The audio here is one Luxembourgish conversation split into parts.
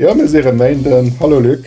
Jo mir si rem Méinden. Hallo Luc.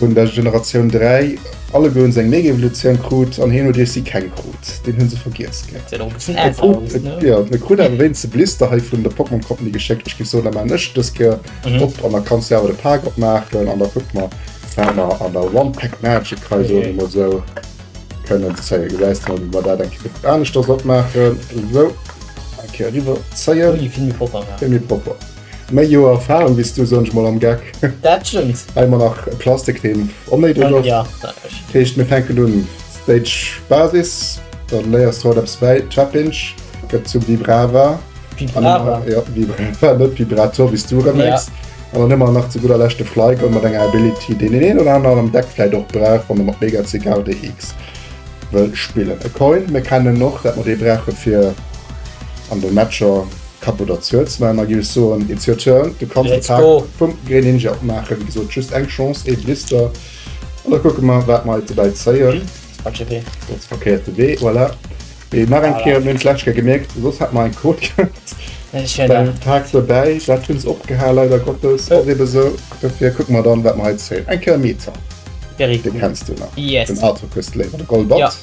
Hunn der Generatioun 3 alleguerens eng Megevolutioun krut an hien huet iech si keng krut. Deen hunn se vergiess gett. Seet och e bëssen älter aus, ne? Jo, et krut awer wéinst e Blister hei vun der Pokémon Company geschéckt. Ech giff soen, dat maachen ech dës Kéier op an da kanns du awer de Paak opmaachen an da kucke mer wat mer an der One Pack Magic hei soen ech mol esou kënnen zéien. Gesäis mol wéi mer dat eng Kéier fir d'Aneschters opmaachen. Esou, eng Kéier eriwwer zéien. Vill méi propper. Méi Joer Erfahrung bis du, soen ech mol am Geck. Dat stëmmt. Hei man nach Plastik den onnéideg ass. Ja, dat ass richteg. Heescht mir fänken un, Stage Basis, dann léiers du haut eppes bäi, Trap-Inch gëtt zum Vibrava. Vibrava? Jo, Vibrava, net Vibrator wéi s du erëm mierks. Ja. An dann hu mer nach zu gudder Lescht de Flyco mat enger Ability, deen deen een oder aneren am Deck vläit och brauch, wann e mat Mega CKRDX wëll spillen. E Coin, mir kennen en och, dat mer dee brauche fir an de Matcher. Kapp oder Zuetz man a gills soen it's your turn, du kanns de Pack vum Greninja opmaachen, wéi gesot just eng Chance, ee Blister an da kucke mer wat mer hei dobäi zéien. Dat's verkéierte Wee, voilà. Mee nach eng Kéier, mir hunn d'lescht Kéier gemierkt, soss hätt mer eng Quot gehat beim Pack dobäi, dat hunn se opgeha leider Gottes, ass ebe sou. Dofir kucke mer dann wat mer hei zéien, eng Kéier Meta, dee kenns du nach, den Artokus, Léiwer, de Golbat.